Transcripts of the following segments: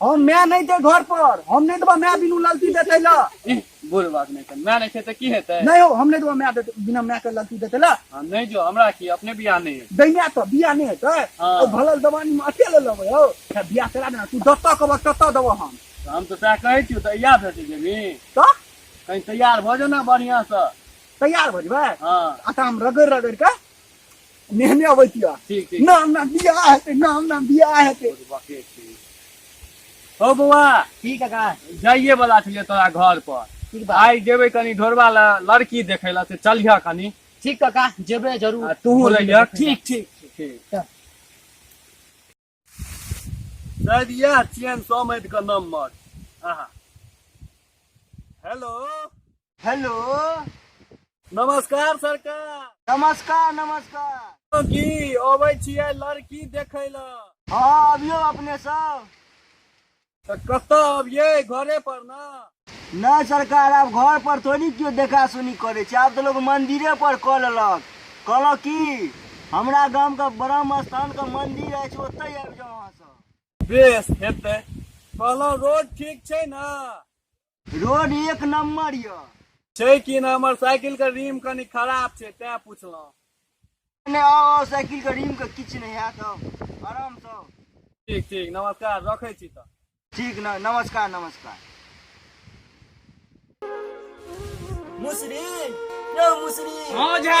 हम मैं नहीं थे घर पर हम नहीं देबा मैं बिनु ललती देते ला इह, बुढ़ बात नहीं कर मैं नहीं छै तऽ की हेतै नहीं हो हम नहीं देबा मैं देते बिना मैं के ललती देते ला हाँ, नहीं जो हमरा की अपने बियाह नहीं है दैना तो बिया नहीं हेतै हाँ। ओ भलल दवानी में अते ले लेबै हो तऽ बिया करा देना तू दत्ता कहबह तत्ता देबह हम तऽ हम तऽ सएह कहै छी तऽ इएह भेट जेबी तऽ कहीं तैयार भऽ जाओ ने बढ़िआँसँ तैयार भऽ जेबै हाँ आटा हम रगड़ि रगड़ि कऽ नेहने अबै तिया ठीक ठीक नाम नाम बियाह हेतै नाम नाम बियाह हेतै हो बौआ की काका जाइए वाला छलियै तोरा घर पर ठीक बा आइ जेबै कनी ढोरबा ल लड़की देखै लए से चलिह कनी ठीक काका जेबे जरूर आ तूहूँ रहिह ठीक ठीक ठीक शायद यह चेन समझ का नंबर आहा हेलो हेलो नमस्कार सरकार नमस्कार नमस्कार की अबै छियै लड़की देखै लए हँ अबियौ अपने सब तऽ कतऽ अबियै घरे पर ना नहि सरकार आब घर पर थोड़ी केओ देखा सुनी करै छै आब तऽ लोक मंदिरे पर कऽ लेलक कहलक कि हमरा गाम के ब्रह्म स्थान के मंदिर अछि ओतै आबि जाउ अहाँ सब बेस हेतै कहलहुँ रोड ठीक छै ने रोड एक नंबर यऽ छै कि ना हमर साइकिल के रिम कनी खराब छै तें पूछलहुँ ने आउ आउ साइकिल के रिम के किछु नहि हैत आउ आराम से आउ। ठीक ठीक नमस्कार रखै छी तऽ ठीक न नमस्कार नमस्कार मुसरी यौ मुसरी हँ झा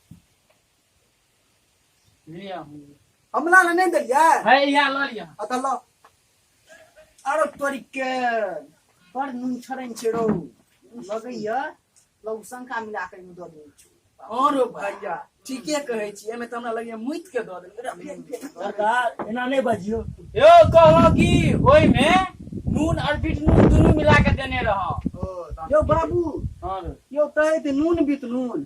लिया हमने हमला ना नहीं दलिया है या लो लिया अतल्ला अरे तोरी के बड़ नून छरन छेड़ो लगैया लौसन का मिला के मुदो दे छु और ओ भैया ठीके कहै छी एमे त हमरा लगैया मुइत के दऽ देलकै रे फेर फेर। सरकार एना नहीं बजियो यो कहलो कि ओइ में नून और बीट नून दोनों मिला के देने रहो ओ, यो बाबू हाँ रे। यो तहे ते नून बीत नून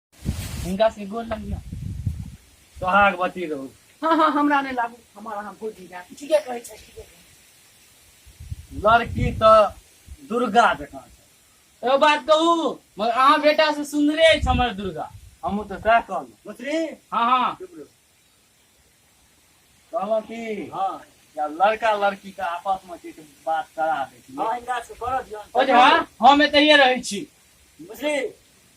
हिनका से गोल लग गया सोहाग बती रहू हाँ हाँ हमरा नहीं लागू हमारा अहाँ भोजी जाए ठीके कहै छै ठीके कहै छै। लड़की तो दुर्गा जकाँ छै एगो बात कहू मगर अहाँ बेटा से सुंदरे अछि हमर दुर्गा हमहूँ तऽ सएह कहलहुँ मत्री हाँ हाँ कहलहुँ की हाँ या लड़का लड़की के आपस में किछु बात करा दै छी हाँ इनका से करऽ दियौ ओ जे हाँ हम एतहिए रहै छी बुझली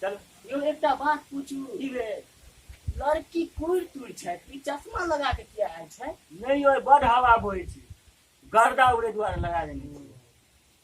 चल यौ एकटा बात पूछू की रे लड़की कुड़ तुड़ छै ई चश्मा लगा के किया आयल छै नहीं यो बड़ हवा बोए छी गर्दा उड़े द्वारा लगा देने छी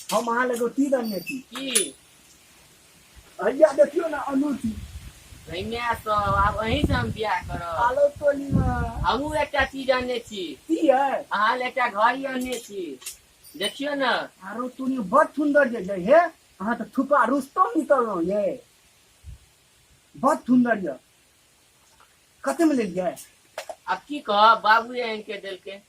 हम अहाँ लगे की दंगे छी की भैया देखियो ना अनूठी भैया तो आब अहीं से हम बियाह करब आलो टोली में हमहूँ एकटा चीज अनने छी की है अहाँ ले एकटा घड़ी अनने छी देखियौ ने आरो तूने बड़ सुंदर जे जे हे अहाँ तऽ छुपा रुस्तम निकललहुँ ये बड़ सुंदर ये कते में लेलियै आब की कहब बाबू एहन के देलकै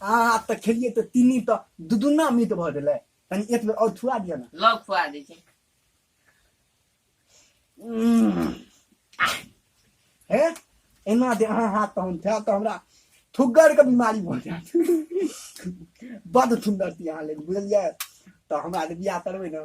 अहाँ आब तऽ खेलियै तऽ तीनी तऽ दू दूना मीत भऽ गेलै कनि एक बेर आओर छुआ दिअ ने लग खुआ दै छै उम्म। आह। हे एना जे अहाँ हाथ तहन खायब तऽ हमरा थुग्गरके बीमारी भऽ जायत बड्ड सुन्दर छी अहाँ लेल बुझलियै तऽ हमरा जे बियाह करबै ने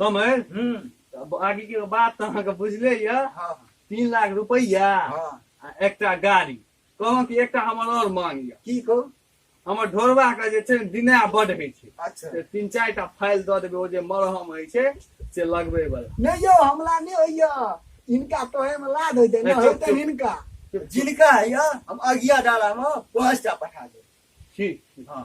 समय हम्म, अब आगे के बात तो अहाँके बुझले यऽ हाँ, तीन लाख रुपैया हाँ। आ एकटा गाड़ी कहलहुँ कि एकटा हमर और मांग यऽ की कहू हमर ढोरबा के जे छै ने दिना बड होइ छै अच्छा से तीन चारि टा फाइल दऽ देबै ओ जे मरहम होइ छै से लगबै बला नहीं यो हमला नहीं होइया इनका तोहे में लाद हो जाए नहीं, ना चुप, होते चुप। इनका जिनका है या हम अगिया डाला में पांच टा पठा दे ठीक हाँ